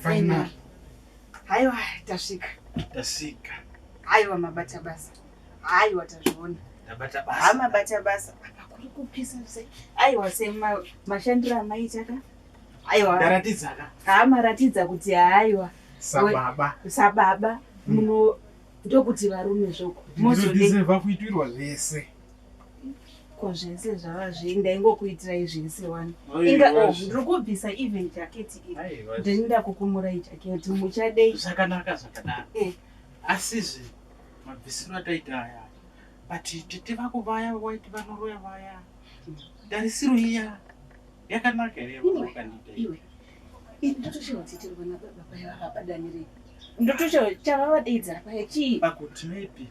Final. Haiwa tasvika. Tasvika. Haiwa mabata basa. Haiwa tazviona. Tabata basa. Hamabata basa. Apa kuri kupisa sei? Haiwa sei mashandiro amaita ka? aiwa ndaratidza ka haa maratidza kuti haiwa sababa sababa hmm. muno ndokuti varume zvoko mozodezeva kuitirwa zvese ko zvese zvava zve ndaingokuitirai zvese wani inga oh, ndiri kubvisa even jaketi iri ndinoda kukumurai jaketi muchadei zvakanaka zvakanaka eh. asizve mabvisiro ataita aya but tete vako vaya waiti vanoroya vaya tarisiro iya Yakanaka here yakandiita iwe? Ini ndotoshawa kuti tiri vana baba paya vakapadanirei? Ndotoshawa chavavadaidzira paya chii? Pakuti maybe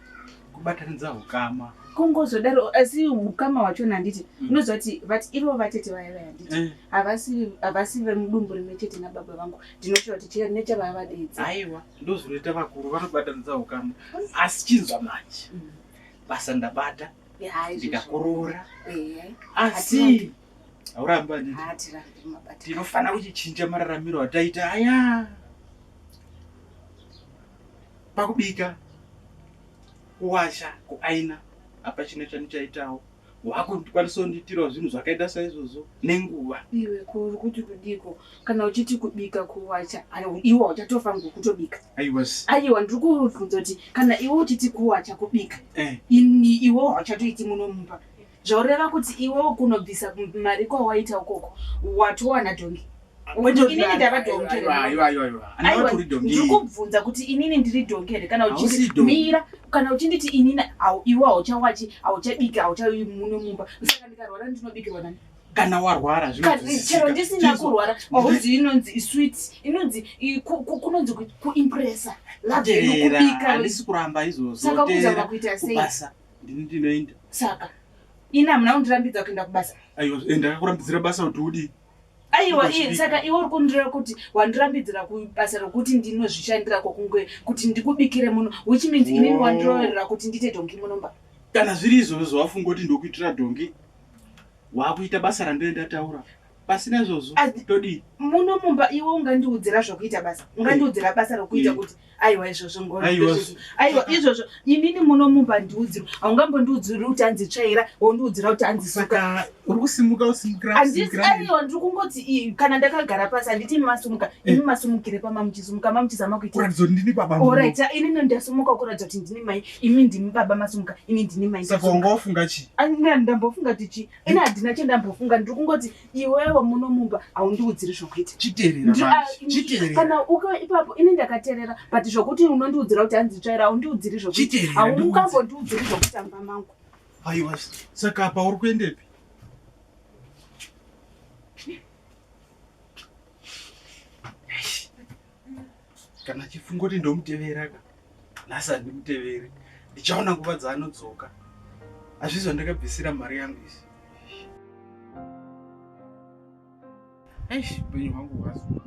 kubatanidza hukama kungozodaro asi hukama hwachona handiti mm. unoziva kuti vati ivo vatete vaya vaya handiti eh. havasi vemudumbu rimwe chete nababa vangu ndinoshora kuti nechavavadedza aiwa ndozvinoita vakuru vanobatanidza hukama asi chinzwa manje mm. basa ndabata ndikakorora eh. asi haurambi handiti tinofanira kuchichinja mararamiro ataita aya pakubika kuwasha kuaina apa chine chanichaitawo wakukwanisa kundiitirawo zvinhu zvakaita saizvozvo nenguva iwe kuri kuti kudiko kana uchiti kubika kuwacha iwe uchatofa ngokutobika aiwa ndiri kubvunza kuti kana iwe uchiti kuwacha kubika eh. ini iwe hauchatoiti muno mumba Zvaureva kuti iwewo kunobvisa mari kwawaita ukoko watowana dhongi inini ndava dhongi ndikubvunza kuti inini ndiri dhongi here kana uchimira kana uchinditi inini iwe hauchawachi hauchabiki hauchai muno mumba saka ndikarwara ndinobikirwa nani kana warwara chero ndisina kurwara auzi inonzi iswit inonzi kunonzi kuimpressa laekubika andisi kuramba izvozvo saka kuzama kuita sei Ndini ndinoenda. Saka ini hamuna kundirambidza kuenda kubasa. Aiwa, eh, ndakakurambidzira basa kuti udii? aiwa iye saka iwe uri kundireva kuti wandirambidzira kubasa rokuti ndinozvishandira kokunge kuti ndikubikire muno which means oh. inini wandiroverera kuti ndiite dhongi munomba kana zviri izvozvo zvawafunga kuti ndokuitira dhongi wakuita basa randinendataura pasina izvozvo todii muno mumba iwe ungandiudzira zvokuita basa ungandiudzira basa rokuita kuti aiwa izvozvo ngoaiwa izvozvo inini muno mumba ndiudzirwa haungambondiudziri kuti anzi tsvaira wondiudzira kuti anzi suka uri kusimuka usimukaaiwa ndiri kungoti kana ndakagara pasi handiti imi masumuka eh. imi masumukire pama muchisumuka ma muchizama kuitaorit inini ndasumuka kuratidza kuti ndini mai imi ndimi baba masumuka ini ndini mai saka ungaofunga chii ndambofunga tichii ini handina chendambofunga ndiri kungoti iwewo muno mumba haundiudziri zvokuita chitererakana ah, uko ipapo ini ndakaterera but zvokuti unondiudzira kuti hanzi tsvaira haundiudziri zvokuita haungangondiudziri zvokuita mumba mangu aiwa saka apa uri kuendepi kana chifungo kuti ndomutevera ka nhasi handimuteveri ndichaona nguva dzaanodzoka hazvizi vandakabvisira mari yangu izi eish upenyu hwangu hwazuva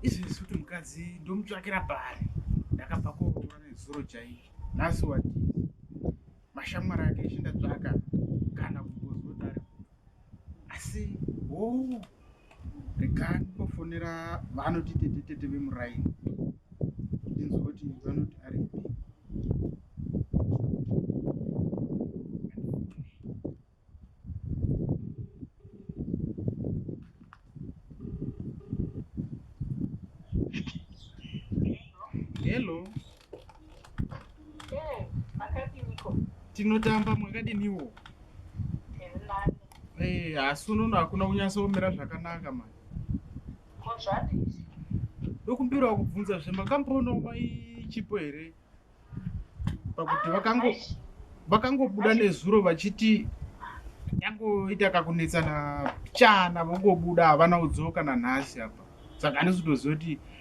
izvezvi kuti mukadzi ndomutsvakira pari ndakabva kuroora nezuro chaizvo nhasi wati mashamwari ake chindatsvaka kana kumbozotari asi hoo rekani kufonera vanoti tete tete vemuraini inzwa kuti vanoti ari Eh, makadiniko? Tinotamba mwakadiniwo? Tiri nani? Eh, asi unono hakuna kunyatsoomera zvakanaka mani. Ko zvadii? Ndokumbirawo kubvunza zve makamboonawo mai Chipo here? Pakuti vakango Aish, vakangobuda nezuro vachiti yangoita kakunetsana chana vongobuda havana kudzoka nanhasi apa saka handisi kutoziva kuti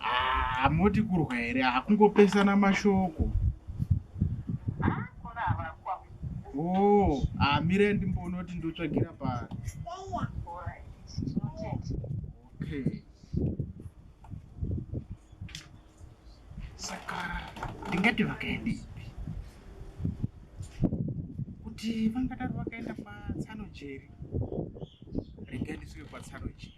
Ah, moti kurwa here akungopesana mashoko oh amire ah, ndimbonoti ndotsvagira pa okay saka ndingati vakaenda ipi kuti vangadaro vakaenda patsano jeri rega ndisvike patsano jeri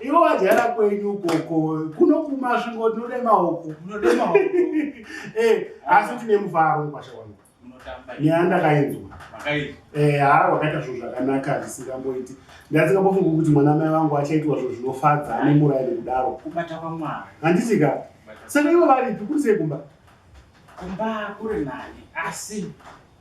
iwe wadyara kwenyu ukoko kuno kumasvingo ndinode maoko eh, asi tine mufaro mukwasha wangu nyaya ndakainzwa eh, haa wakaita zvinhu zvakanaka zvisingamboiti ndasingambofungi kuti mwana mai vangu achaitwa zvinhu zvinofadza ane muraini kudaro handisika saka ivo varipi kuri sei kumba kumba kuri nani asi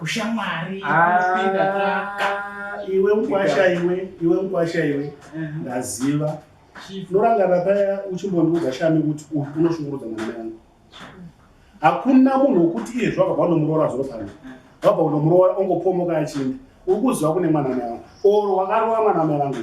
ushamwari iwe mkwasha iwe iwe mkwasha iwe ndaziva norangana paya uchimbondiudza shami kuti unoshungurudza mwana yangu hakuna munhu wokuti iye zvakabva unomuroora zvino pano vabva unomuroora ongopomoka achinda uri kuziva kune mwana mai wangu or wakarova mwana mai vangu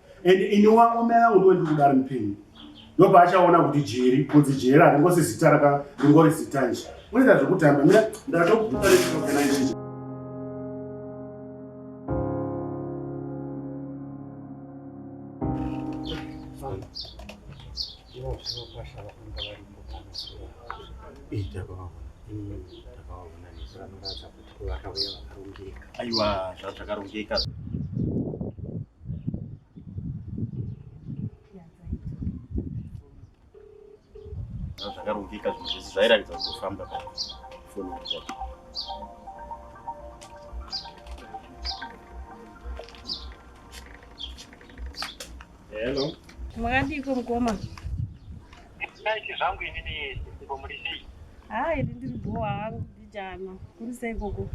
and ini wangu mai vangu ndo ndikuda ari mupenyu ndopa achaona kuti jeri kunzi jeri haringosi zita raka ringori zita nje unoita zvekutamba mira ndatokuona izvii aiwa zvakarongeka zvakarongeka zvinhu zvese zvairatidza kuti kufamba pafoni Hello. Makadiko mkoma. It's nice zvangu inini sisiko muri sei? Haa ini ndiri bhowa hangu bijana. Kuri sei koko?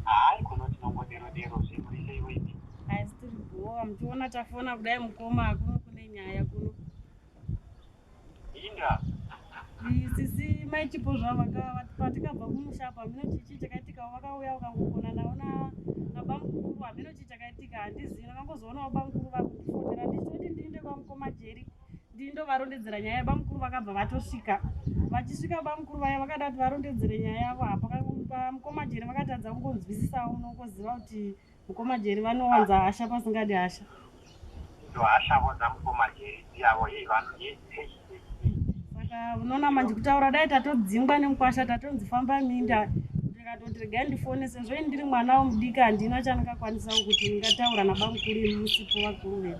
Hai kuno tinongodero dero zve muri sei weti? Hai tiri bhowa muchiona tafona kudai mukoma kuno kune nyaya kuno. Indra. Sisi mai chipo zvavo patikabva kumusha apa hameno chichi chakaitika vakauya vakangogona navo na nabamukuru hameno chii chakaitika handizivi vakangozoona vabamukuru vakufonera ndichitoti ndiinde kwamukoma jeri ndini ndovarondedzera nyaya yabamukuru vakabva vatosvika vachisvika bamukuru vaya vakada kuti varondedzere nyaya yavo apa mukoma jeri vakatadza kungonzwisisawo unokoziva kuti mukoma jeri vanowanza hasha pasingadi hasha hashavo dzamukoma jeri dziyavo hei vanhu saka unoona manje kutaura dai tatodzingwa nemukwasha tatonzi famba minda ndikatoti regai ndifone sezvo ini ndiri mwana womudiki handina chandingakwanisawo kuti ndingataura nabamukuru imusipo vakuru vedu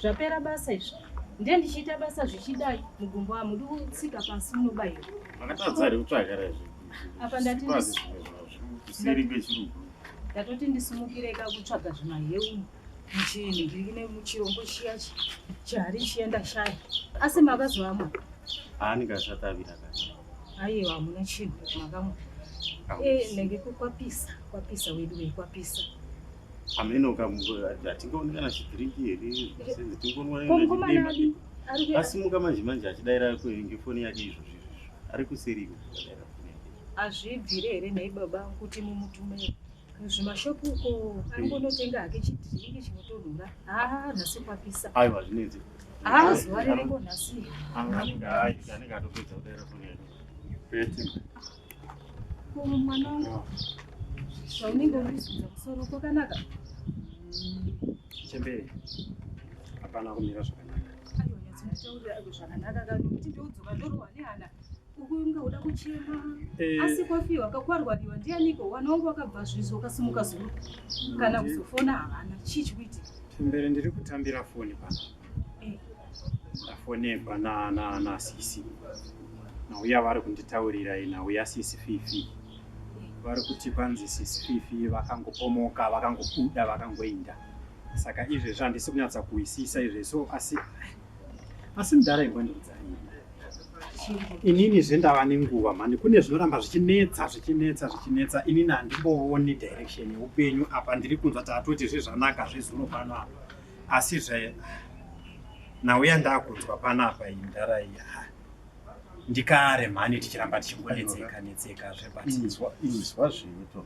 Zvapera basa izvo. Ndiye ndichiita basa zvichidai mugumbo amudi kutsika pasi munobaira. Makatadza here kutsvaga rezvi. Apa ndati kuseri kwechirugu. Ndatoti ndisimukire ka kutsvaga zvimaheu muchinhu ndiri kune muchirombo chiya chihari chiya ndashaya. Asi makazovamwa. Ani kashatavira kacho. Aiwa hamuna chinhu makamwa. Eh, nenge kwapisa, kwapisa wedu wekwapisa. Ameno kamvura hatingaoni kana chidhiriki here senze tingonwaimai asimuka manje manje achidaira kwenge foni yake izvo zvizvo ari kuseri iko zvakadaira foni yake hazvibvire here nhai baba kuti mumutumei zvimashopu uko angonotenga hake chidhiriki chinotonhura haa nhasi kwapisa aiwa zvinenzi haa zuva ririko nhasi anenge atopedza kudaira foni yake Kuru mwana wangu. Zvaunenge urizvidza musoro kwakanaka. Chembere. Hapana kumira zvakanaka. Aiwa nyatso nditaurira aiwa zvakanaka kana kuti ndodzoka ndorohwa nehana. Ukunge uda kuchema. Eh. Asi kwafiwa kakwarwariwa ndianiko wana wangu wakabva zvizo ukasimuka zuro. Kana kuzofona havana. Chii chikuitika? Chembere ndiri kutambira foni pano. ndafonegwa nanasisi nauya vari kunditaurira inauya sisi fifi vari kuti kwanzi sisi fifi vakangopomoka vakangobuda vakangoinda saka izvezvi handisi kunyatsa kuhwisisa izvezvo asi asi mudhara imbondiudza inini zvendava nenguva mhani kune zvinoramba zvichinetsa zvichinetsa zvichinetsa inini handimbooni direction yeupenyu apa ndiri kunzwa taatoti zvezvanaka zvezuro pano apa asi zve nhau yandakunzwa panapa iyi mdara iyi ndikare mhani tichiramba tichingonetseka netseka zvebatinzwa zveto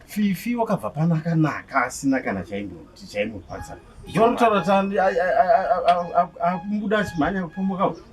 fifi wakabva pana akanaka asina kana chaimoti chaimurwadza ndinotaura tani akumbuda achimhanya kupomoka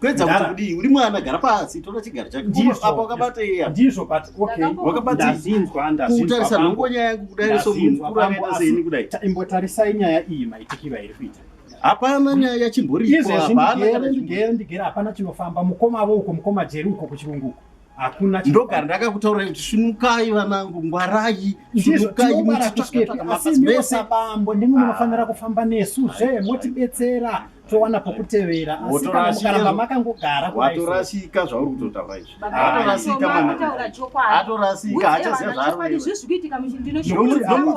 kuedza kuti kudii uri mwana gara pasi tora chigaro chakeapa wakabata iya ndizvo but okay wakabatazinzwa ndazinzwakutarisa nongo nyaya yangu kudai so munhu mukuru akaita seini kudai imbotarisai nyaya iyi maitikiro airi kuita hapana nyaya yachimboripo hapana kana ndigere ndigere hapana chinofamba mukoma avo uko mukoma jeri uko kuchirungu uko hakuna ndogara ndakakutaura kuti sunukai vanangu ngwarai sunukaivese bambo ndimi munofanira ah. kufamba nesu zve motibetsera towana pokutevera asi kana mukaramba makangogara watorasika zvauri kutotaura izvi atorasika atorasika hachaziva zvaari kuiwa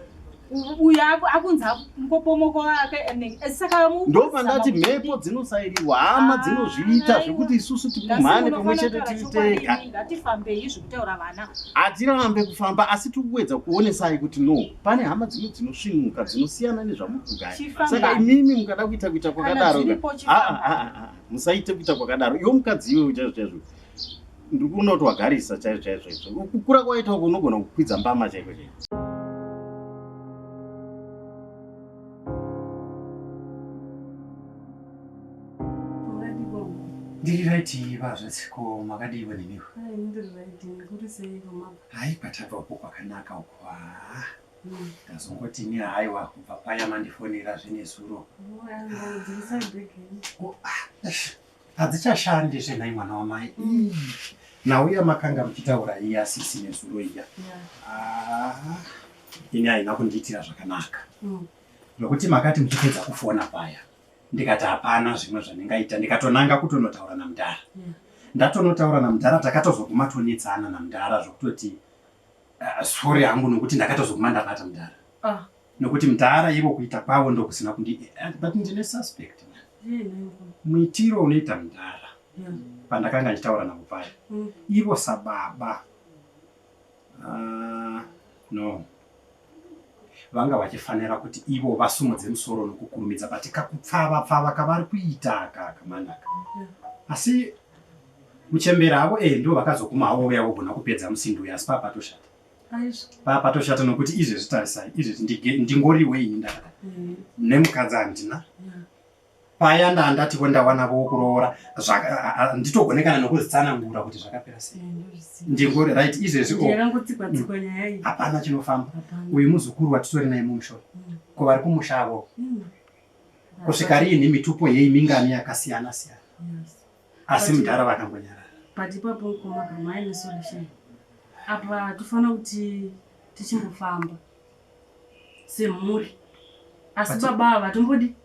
uyo akunzi mupopomoko wake ndopandati mhepo dzinosairirwa hama ah, dzinozviita zvekuti isusu tikumhane pamwe chete tiri tega hatirambe kufamba asi tiri kuedza kuonesai kuti no pane hama dzimwe dzinosvinuka dzinosiyana nezvamuri kugaya saka imimi mukada kuita kuita kwakadaro ah, ah, musaite kuita kwakadaro iwo mukadzi iwe chaizvo chaizvo ndiri kunoti wagarisa chaizvo chaizvo izvo kukura kwaita uko unogona kukwidza mbama chaiko chaiko ndiri right iva zvasiko makadii vaneniwa hai kwatabva uko kwakanaka uko haa ndazongoti ni haiwa kubva paya mandifonera zvenezuro hadzichashandi zve nhai mwana wamai mm. nhau yamakanga muchitaura iya sisi nezuro iya ah, ini haina kundiitira zvakanaka mm. zvokuti makati muchipedza kufona paya ndikati hapana zvimwe zvandingaita ndikatonanga kutonotaura namudhara ndatonotaura namudhara takatozoguma tonetsana namudhara zvokutoti ah, sori hangu nokuti ndakatozoguma ndanata mudhara ah. Nokuti mdhara ivo kuita kwavo ndokusina kundi eh, but ndine suspect muitiro unoita mdhara pandakanga ndichitaura navo paya mm. ivo sababa ah, no vanga vachifanira kuti ivo vasumudze musoro nokukurumidza but kakupfava pfava kavari kuita kaka manaka asi muchembera avo e eh, ndo vakazoguma havo vouya vogona kupedza musindo uyo asi papatoshata papatoshata nokuti izvezvi tarisai izvezvi ndingoriwe ini ndakada mm. nemukadzi handina paya ndandatiko ndawana vokuroora nditogonekana nokuzitsanangura kuti zvakapera sei ndingori right izvezvi mm. hapana chinofamba uyu muzukuru watitori naye mumusho mm. ko vari kumusha avo kusvika riinhi mitupo yei mingani yakasiyana siyana asi mudhara vakangonyarara but ipapo mkoma kama aine solution apa hatifanira kuti tichimbofamba semhuri asi baba ava tombodi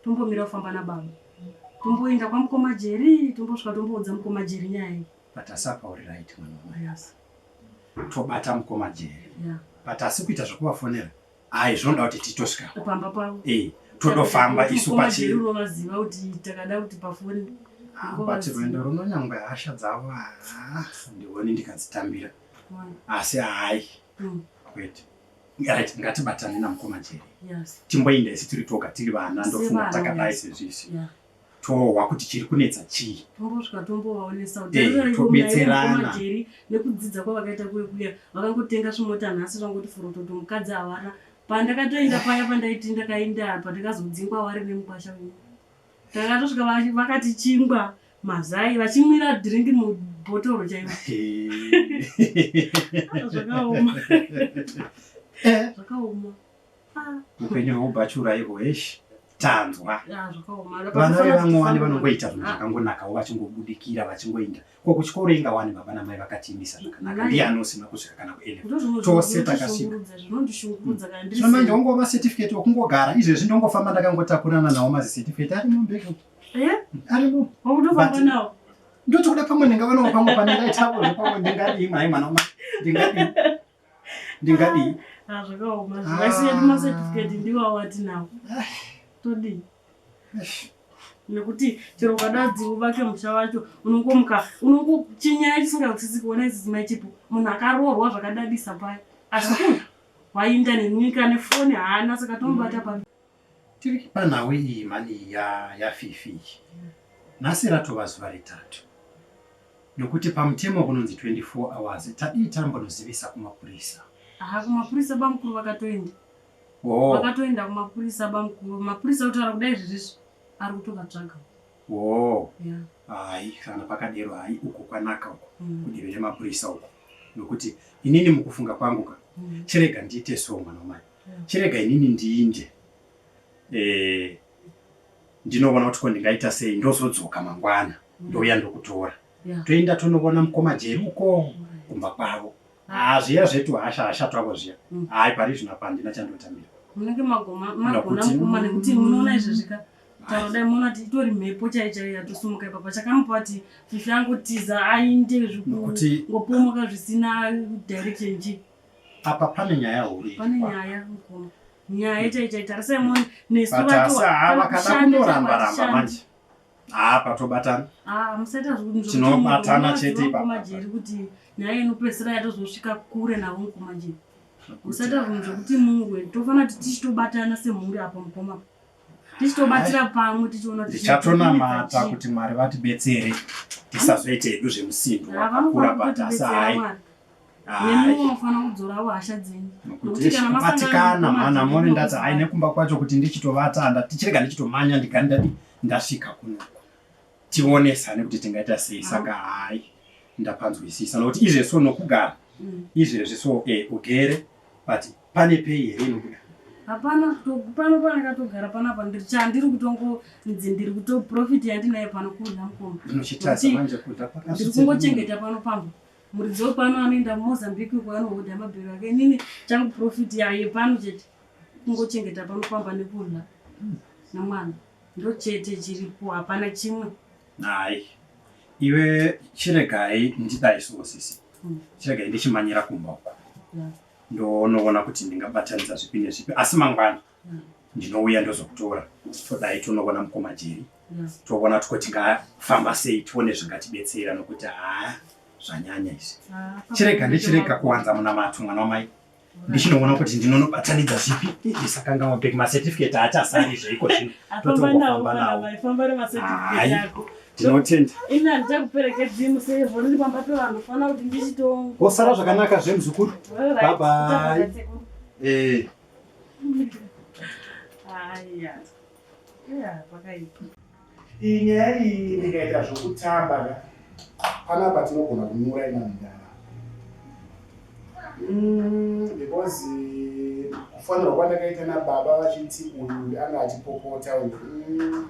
tombomira kufamba nababa tomboenda kwamukoma jeri tombosvika tomboudza mukoma jeri nyaya iyi but asi apa uri right mwana wamai yes. tobata mukoma jeri yeah. but asi kuita zvekuvafonera Ayi zvinoda kuti titosvika pamba pavo. Eh, todofamba isu pachi. Koma vaziva kuti takada kuti pafoni. Ah, but rwendo runo nyangwe hasha dzavo ah, ndione ndikadzitambira. Asi hayi. Mm. Kwete. Right, ngatibatane namukoma Jeri. Yes. Timboinda isi tiri toga tiri vana ndofunga takadai sezvisi. Yeah. tohwa kuti chiri kunetsa chii tombosvika tombovaonesa kutitobetserana eh, nekudzidza kwavakaita kuve kuya vakangotenga zvimota nhasi zvangoti forototo mukadzi havana pandakatoenda paya pandaiti ndakaenda apa ndakazodzingwa wari nemukwasha uyu takatosvika vakati chingwa mazai vachimwira drink mubhotoro chaimo zvakaoma eh. zvakaoma upenyu hwekubhachura ihwo heshi tanzwa vana vevamwe wani vanongoita zvinhu ah. zvakangonakawo vachingobudikira vachingoinda ko kuchikoro inga wani baba namai vakatiimisa zvakanaka ndiye anosima kusvika kana kuele tose takasvika zvino manje wongo macertificate wokungogara izvezvi ndongofamba ndakangotakurana nawo mazicertificate ari mumbeko eh? arimo ndotikuda pamwe ndingavanawo pamwe pane ndaitakozvo pamwe ndingadii mai mwana ndingadii ndingadii ah, zvakaoma zvivasi yedu ah. macertificate ndiwo awatinawo ah. todii nekuti chero ukadadzi uvake musha wacho unongomuka unongochinyaya chisingatsitsi kuona isizimai chipo munhu akaroorwa zvakadadisa paya asi wainda nenyika nefoni haana saka tomubata pa Tiri panhau iyi mhani ya yaFifi iyi nhasi ratova zuva retatu nokuti pamutemo kunonzi 24 hours tadii tambonozivisa kumapurisa. Aha kumapurisa bamukuru vakatoenda. Oh. Vakatoenda kumapurisa bamukuru. Mapurisa kutaura kudai zvirizvo ari kutovatsvaga. Oh. Yeah. Hai kana pakadero hai uko kwanaka uko mm. kudivi remapurisa uko nokuti inini mukufunga kwangu ka mm. chirega ndiite so mwana wamai chirega inini ndiinde eh, ndinoona kuti ko ndingaita sei ndozodzoka mangwana mm. ndouya ndokutora toenda tonoona mukoma jeri uko mm. kumba kwavo ah, zviya zvetu hasha hasha twavo zviya mm. hai pari zvino apa handina chandotambira munenge magona mukoma nekuti munoona izvezvika tarodai muona kuti itori mhepo chai chai yatosumuka ipapa chakamupa kuti fifi angotiza ainde zvikungopomoka zvisina direction chii apa pane nyaya huru pane nyaya mukoma nyaya chaichai tarisai mone nesu vacho vakada kundoramba ramba manje haa patobatana ah, tinobatana chete ipapamajeri kuti nyaya inopesera yatozosvika kure navo mukomajeri musaita zvinhu zvekuti mungwe tofanira kuti tichitobatana semhuri apo mukoma tichitobatira pamwe tichiona tichatonamata kuti mwari vatibetsere tisazoite hedu zvemusindo wakakura patasa hai nemiwo mufanira kudzorawo hasha dzenyu nokuti kana masangatikana mana mone ndati ai nekumba kwacho kuti ndichitovata ndati chirega ndichitomanya ndigani ndati ndasvika kunoko tionesane kuti tingaita sei saka hai ndapanzwisisa nokuti izvezvi so nokugara mm. izvezvi so e ugere but pane pei here nokuda hapana pano panakatogara panapa chandiri kutongonzi ndiri kutoprofit yandinayo pano kurya mukoma ndiri kungochengeta pano pamba muridzi wepano anoenda kumozambique uko anohodha mabhero ake inini changu profit yaye pano chete kungochengeta pano pamba nekudla nemwana ndo chete chiripo hapana chimwe hai iwe chiregai ndidaisowo sisi hmm. chiregai ndichimanyira kumba uko ndonoona kuti ndingabatanidza zvipi nezvipi asi mangwana ndinouya ndozokutora todai tonoona mukoma jeri toona kuti tingafamba sei tione zvingatibetsera nokuti haa zvanyanya izvi chirega ndichirega kuwanza munamato mwana wamai ndichinoona kuti ndinonobatanidza zvipi ndisakangawa bek macertificate haachasari zveiko zvino totofamba nawo tinotenda ini handita kuperekedzi musevho ndiri pamba pevanhu fanira kuti ndichito kosara zvakanaka zvemuzukuru babai Aya. Yeah, pakaipa. Iyi nyaya iyi ndikaita zvokutamba ka panapa tinogona kunyura ina mudhara mm, because kufanirwa kwandakaita nababa vachiti uyu anga achipopota uyu mm.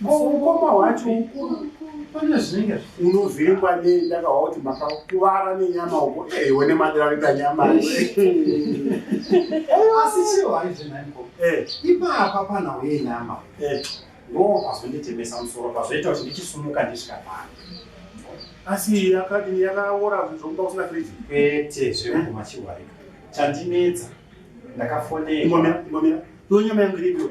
mukoma wacho pane zvinenge unovhengwa ne ndakahwa kuti makakuvara nenyama uko ewe eh, nemadira rita nyama asi chiro haizvenaiko eh. ipapa panhau yenyama eh. ndoo pazonditemesa musoro pazoita kuti ndichisumuka ndisvikapana asi yakadini yakaora zvokuda kusina friji kwete zvekuguma chiwarika chandinetsa ndakafonera imomira imomira ndonyama yangu iripiwe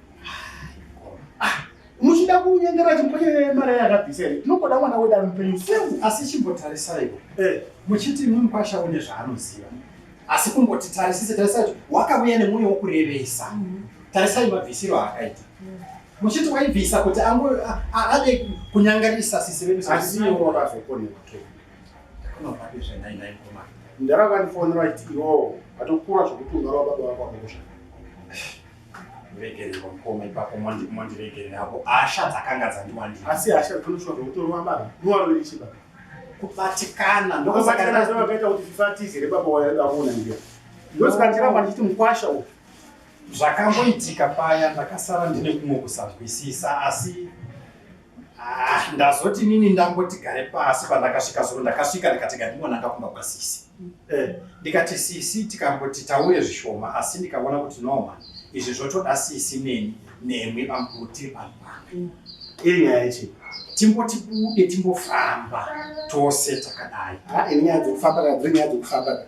muchida kunyengera chimupanye mari yakabvisa here tinongoda mwana wedu ari mupenyu semu asi chimbotarisaiwo eh. muchiti mumkwasha une zvaanoziva asi kungoti tarisise tarisai kuti wakavuya nemwoyo wokurevesa mm-hmm. tarisai mabvisiro aakaita mm-hmm. muchiti waibvisa kuti angu ade kunyangarisa sisi vedu asiwo wakazokoneka toaaaaiaaiaa ndara vandifonera vachiti iwo vatokura zvokuti ungarova baba vako akokoshaa regererwa mukoma ipapo mondiregerera hapo hasha dzakanga dzandiwandira asi hasha dzinoshwa zvekutorwa baba niwarori chiba kubatikana ndokasakaakaita kuti fifatizi here baba waida kuona ndiyo ndosaka ndiramba ndichiti mukwasha uyu zvakamboitika paya ndakasara ndine kumwe kusanzwisisa asi Ah, ndazoti nini ndamboti gare pasi pandakasvika zuro ndakasvika ndikati ngandingonanga kumba kwasisi eh, ndikati sisi tikamboti tauye zvishoma asi ndikaona kuti noma izvi zvotoda sisi neni nemwi bamkuru tiri vanhu vamwe iri nyaya yechi timboti bude timbofamba tose takadai ah, ini nyaya dzekufamba kana dziri nyaya dzekufamba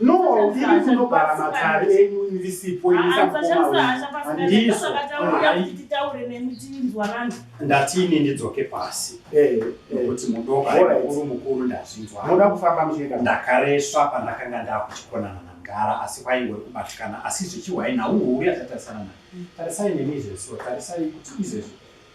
No, iri kunogara matare enyu ndisipo ndatini ndidzoke pasi nokuti mudokaekuru mukuru ndazvinzwamoda kufamba muchienda ndakaresva pandakanga ndakuchikonana namgara asi kwaingwe kubatikana asi zvichihwai nhau huru yatatarisana nayo tarisai nemi izvezvo tarisai kuti izvezvo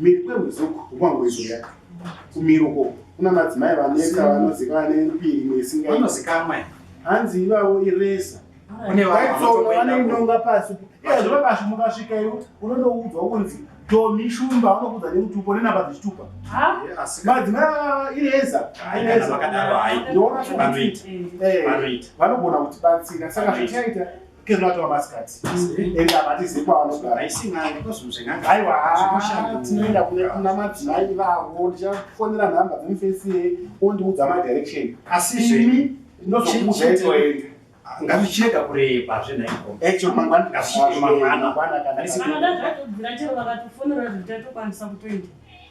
miri kwehuzuku kumangwezoya kumiruko kuna madzimai vaneka vanoziva vane mbiri imwe isingaanozikamwa hanzi ivavo iresa vanoinonga pasi iyazvo vakasvi mukasvika ivo unondoudzwa kunzi tomi shumba vanokudza nemutupo nenamba dzechitupa madzimai iresa iresa ndoona kuti eh, vanogona kutibatsira saka zvichaita kezvatova masikati mm-hmm. ende havatizi kwavanogara aiwa tinoenda kuna madzimai vavo ndichafonera nhamba dzemufesie ondiudza madirection asi ini ndinozokuuzaitoenda ngazvichienda kureba zvenhaikoaamangwanaaisi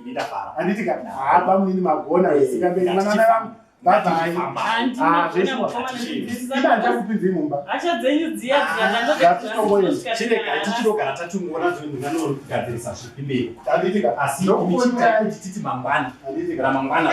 ini ndafara handiti ka haa bamunini magona zvisingamberi mwana vangu tichitogara tatungoona zvinogadzirisa zvipi mberi asi ichititi mangwana ramangwana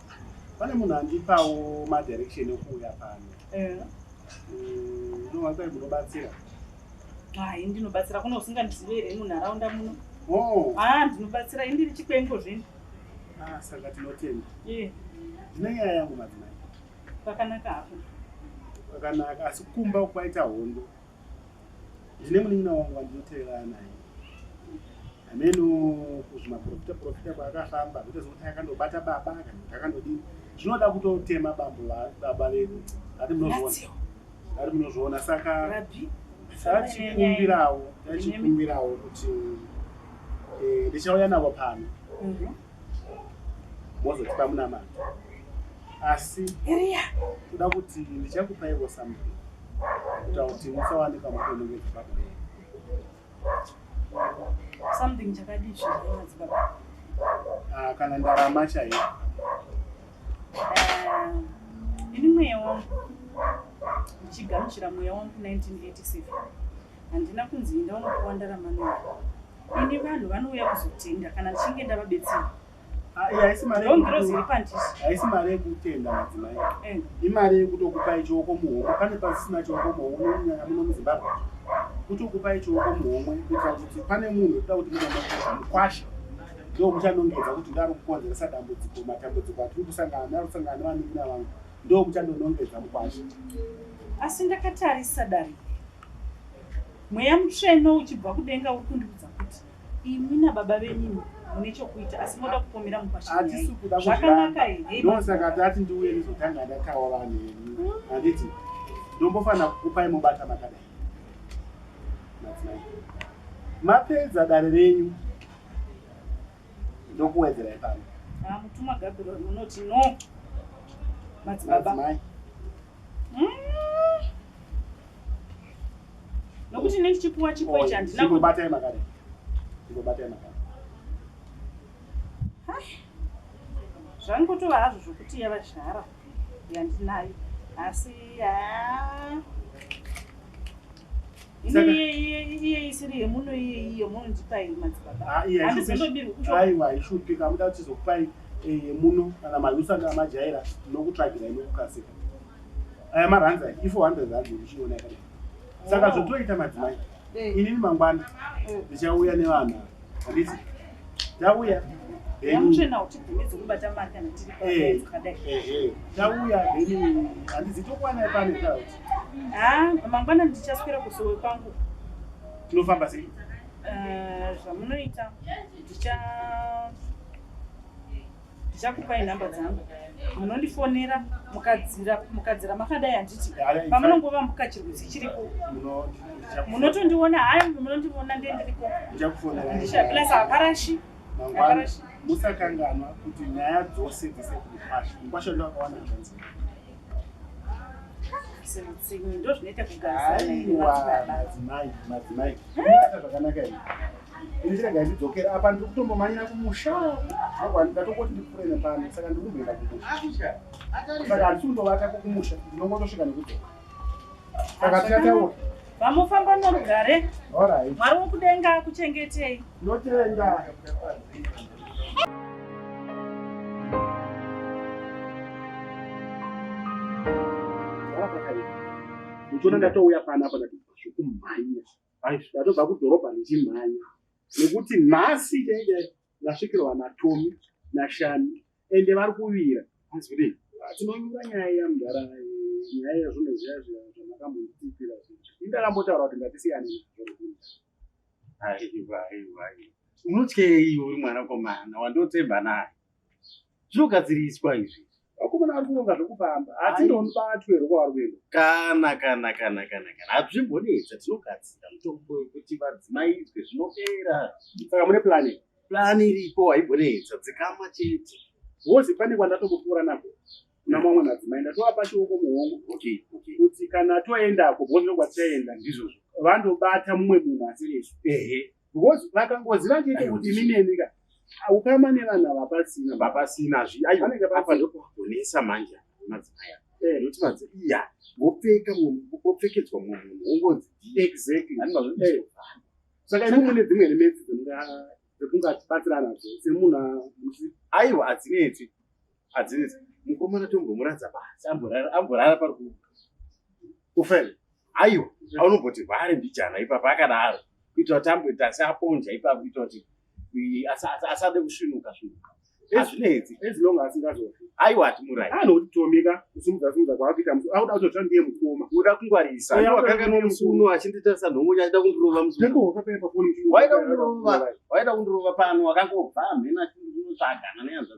pane munhu andipawo madirection ekuuya pano unowakai mm, munobatsira hai ndinobatsira kuno usingandizive here munharaunda muno oh. ha ah, ndinobatsira i ndiri chikwengo zvino ah, saka tinotenda ndine nyaya yangu madzimai pakanaka hapo pakanaka asi kumba kwaita hondo ndine munin'ina wangu wandinoteerana naye hameno kuzvimaprofita profita kwaakafamba kuita zvokuti akandobata baba kana kuti akandodini zvinoda kutotema bambo baba vedu ati munozviona ati munozviona saka tachikumbirawo tachikumbirawo kuti eh, ndichauya navo pano mhm. mozotipa munamato asi kuda kuti ndichakupaiwo something kuita kuti musawanika mutonenge dzibaba yenu something chakadii zvinoona dzibaba Ah, kana ndarama chaiyo Eh, ini mweya wangu ndichigamuchira mweya wangu 1987 handina kunzi enda unopiwa ndarama nayo Ini vanhu vanouya kuzotenga kana ndichinge ndavabetsera. Ah, iya haisi mari Ndoo ngirozi iri yekuku- pandisi. haisi mari yekutenda madzimai Eh. imari yekutokupai chioko muhomwe pane pasisina chioko muhomwe kunyanya muno muzimbabwe kutokupai chioko muhomwe kuitira kuti pane munhu toda kuti munomakuza mukwasha ndo muchanongedza kuti ndari kukonzeresa dambudziko matambudziko atiri kusangana nayo kusangana nevanin'ina vangu ndo muchandonongedza mukwasha Asi ndakatarisa dare. Mweya mutsvene uchibva kudenga uri kundiudza kuti imi nababa venyu mune chokuita asi moda kupomera mukwashazvakanaka here ndosaka tati ndiuye ndizotanga ndataura neni handiti ndombofanira kukupai mobata makadai madzimai mapedza dare renyu ndokuwedzera ipano ah, mutuma gabiro munoti no madzibaba mm. nokuti ne chipuwa chipo ichi handina kubatai makare ndinobatai makare zvangotova hazvo zvokuti yavazhara yandinayo asi haa aiwa ishupika muda kuti tizokupai eh, yemuno kana malusa kana majaira nokutsvagira ino kukasika aya maranza if 100 rand ndichiona yakadai saka oh. zvotoita madzimai inini mangwana ndichauya nevanhu Handiti? Tauya. Yamutsvena kuti bvumidzi kubata mari kana tiri eh, pakadai. Eh, eh. Tauya then handizi tokwana pane tauti. Ah, mangwana ndichaswera kusowe kwangu. Tinofamba sei? Eh, zvamunoita ndicha ndichakupai nhamba dzangu munondifonera mukadzira mukadzira makadai handiti pamunongova mukachirwisi chiriko munotondiona hayi munondiona ndiye ndiriko plus haparashi haparashi musakanganwa kuti nyaya dzose dzese kukwasha mukwasha ndoakawana zvanzi ndichiregai ndidzokere apa ndiri kutombomanyira kumusha ndatomboti ndipfuure nepano saka ndiri kumboenda kumusha saka handisi kundovata kumusha ndinongotosvika nekudzoka saka tikataura vamofamba norugare mwari wokudenga akuchengetei notenda uchiona ndatouya pana apa ndatikumhanya ndatobva kudhorobha ndichimhanya nekuti nhasi chaidai ndasvikirwa natomi nashani ende vari kuvira hanzi kuti ah, tinonyura nyaya iya mudhara nyaya iya zvino zviya zviya zvamakambonditipira indakambotaura kuti ngatisiyane aiwa aiwa unotyei uri mwanakomana wandotsemba naye zvinogadziriswa izvi vakomana vari kuronga zvekufamba asi ndobatwe rokwavari kuenda kana kana kana kana kana hazvimbonetsa tinogadzira mutombo wekuti vadzimaidzwe zvinopera saka mune plani plani iripo haimbonetsa dzikama chete wozi pane kwandatokupfuura nako kuna mamwe madzimai ndatovapa chioko muhongo kuti kana toendako bozvinogwatichaenda ndizvozvo vandobata mumwe munhu asirisu ehe because vakangoziva chete kuti mineni ka ukama nevana vapasina vapasina zviaiapa ndokuvagonesa manje madzimaya eh. nokuti madzi iya vopfeka vopfekedzwa mumwe munhu wongonzi exactly eh. saka imi mune dzimwe remetsi dzemunga dzekungatibatsira nadzo semunhu aiwa adzinetsi adzinza mukomana tombomuradza basi amborara amborara pari ku ufel aiwa aunomboti vhare mbijana ipapa akadaro kuitira kuti amboita asi aponja ipapa kuitira kuti asade kusvinuka svinuka azvinetsi as long as ngazofi aiwa atimurai anotomika kusimudza simudza kwaapika musi auda kutotira ndiye mukoma uda kungwarisa wakanganwa musi uno achinditarisa nhongonya achida kundirova musi waida kundirova waida kundirova pano wakangobva hamhena achindinotsvagana neyanzva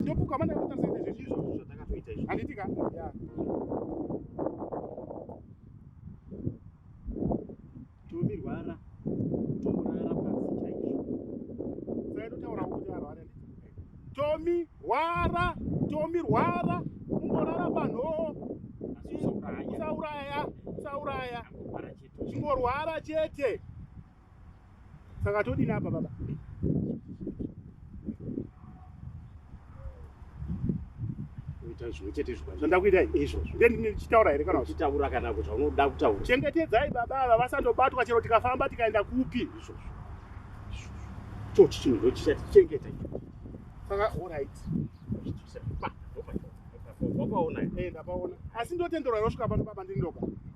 ndopuka mana kutarisa izvi izvo zvatakatoita izvo handitika yeah. tomirwara tomurara pasi chaizvo saitotaura kuti arware tomirwara tomirwara umborara panhoo usauraya usauraya chingorwara chete saka todini apa baba kuita zvimwe chete zvikwai zvandakuitai izvozvo nde ndichitaura here kana uchitaura kana kuti zvaunoda kutaura chengetedzai baba ava vasandobatwa chero tikafamba tikaenda kupi izvozvo chochi chinhu ndo chichatichengeta saka orit asi ndotenderwa yosvika pano baba ndindoka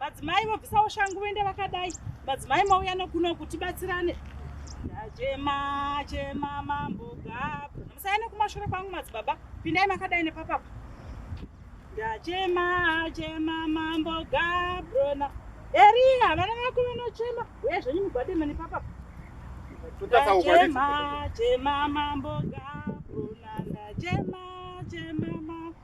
Madzimai vobvisawo shangu vende vakadai. Madzimai mauya nokuno kuti batsirane. Ndachema chema mambo gapu. Musaya nekumashure kwangu madzibaba. Pindai makadai nepapapa. Ndachema chema mambo gabrona. Eria vana vako vanochema. Uye zvenyu mugwade mene papapa. Ndachema chema mambo gabrona. Ndachema chema mambo.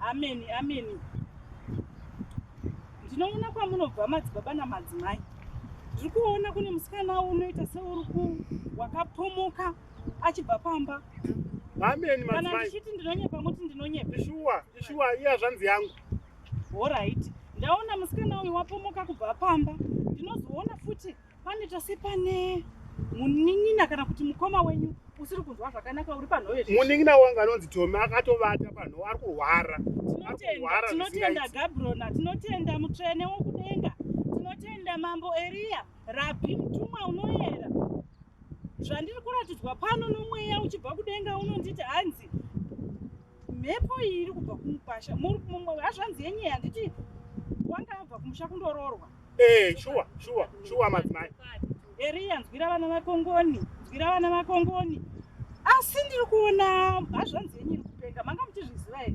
ameni ameni ndinoona kwamunobva madzibaba namadzimai ndiri kuona kune musikana unoita seuri ku wakapomoka achibva pamba ameni kana ndichiti ndinonyepa muti ndinonyepa ishuwa ishuwa iya zvanzi yangu horaiti ndaona musikana uyu wapomoka kubva pamba ndinozoona futi Panoita sepane munin'ina kana kuti mukoma wenyu usiri kunzwa zvakanaka uri panhoyo munin'ina wangu anonzi tomi akatovata panhoyo ari kurwara tinotenda gabrona tinotenda mutsvene wokudenga tinotenda mambo eriya rabhi mutumwa unoyera zvandiri kuratidzwa pano nomweya uchibva kudenga unonditi hanzi mhepo iyi iri kubva kumukwasha muri mumwe hazvanzi yenye handiti wanga abva kumusha kundoroorwa ee eh, shuwa shuwa shuwa madzimai eriya nzwira vana vakongoni nzwira vana vakongoni asi ndiri kuona hazvanzi yenye iri kupenga manga muchizviziva here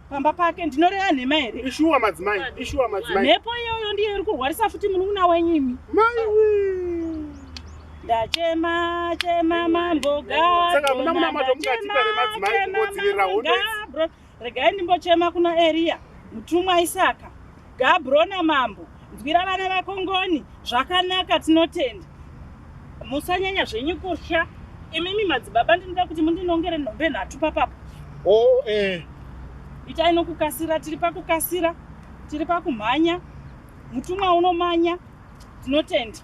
pamba pake ndinoreva nhema here ishuwa madzimai ishuwa madzimai mhepo iyoyo ndiyo iri kurwarisa futi munun'una wenyu imi ndachema chema mambo gaachema regai ndimbochema kuna eriya mutumwa isaka Gabrona mambo nzwira vana vako ngoni zvakanaka tinotenda musanyanya zvenyu kutya imimi madzibaba ndinoda kuti mundinongere nhombe nhatu papapa oh, eh. itai nokukasira tiri pakukasira tiri pakumhanya mutumwa unomanya tinotenda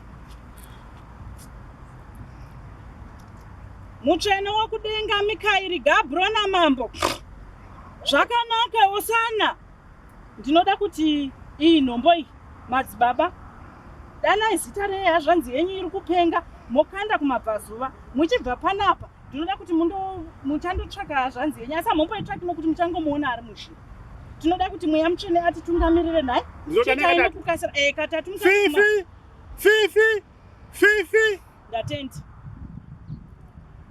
mutsvene wokudenga mikairi gabrona mambo zvakanaka osana Ndinoda kuti iyi nhombo iyi madzibaba danai zita rehazvanzi yenyu iri kupenga mokanda kumabvazuva muchibva panapa ndinoda kuti muchandotsvaka hazvanzi yenyu asi hamomboitsvakimo kuti muchangomuona ari mushe tinoda kuti mweya mutsvene atitungamirire nhai chitai nekukasira eh, katatu fifi fifi Fifi. Ndatenda.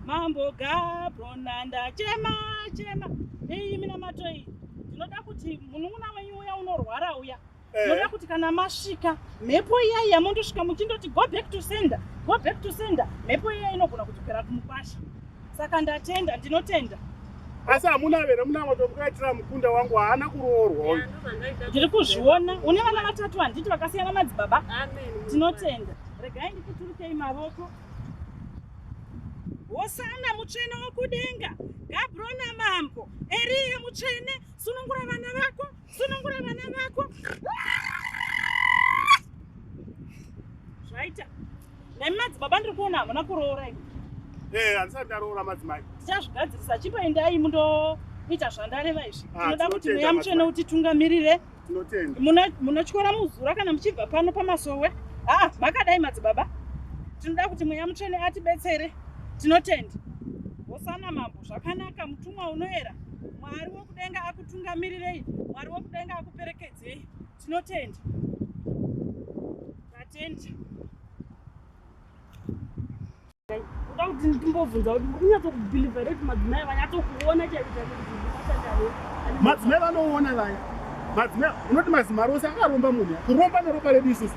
Mambo Gabrona ndachema chema. Iyi mina matoi. Ndinoda kuti munun'una wenyu uya unorwara uya. Eh. Ndinoda kuti kana masvika mhepo iya iya mondosvika muchindoti go back to sender. Go back to sender. Mhepo iya inogona kudzokera kumukwasha. Saka ndatenda, ndinotenda. Asi hamuna here muna matokukaitira mukunda wangu haana kuroorwa uyu. Ndiri kuzviona. Une vana vatatu handiti vakasiyana madzibaba? Amen. Tinotenda. Regai ndikuturukei mavoko. Hosana mutsvene wokudenga. Gabrona mambo. Eriya mutsvene sunungura vana vako. sunungura vana vako zvaita nemi madzibaba ndiri kuona hamuna kuroora imi ee eh, handisati ndaroora madzimai tichazvigadzirisa chipoendai mundoita zvandareva izvi ah, tinoda kuti mweya mutsvene utitungamirire munotyora muzura kana muchibva pano pamasowe aa ah, makadai madzibaba tinoda kuti mweya mutsvene atibetsere tinotenda hosana mambo zvakanaka mutumwa unoera mwari Kudenga akutungamirirei, Mwari wokudenga akuperekedzei. Tinotenda. Tatenda. Kuda kuti ndimbobvunza kuti unyatsokubhilivha here kuti madzimai vanyatsokuona chaizvo madzimai vanoona vaya madzimai unoti mazimari ose akaromba munhu kuromba neropa redu isusu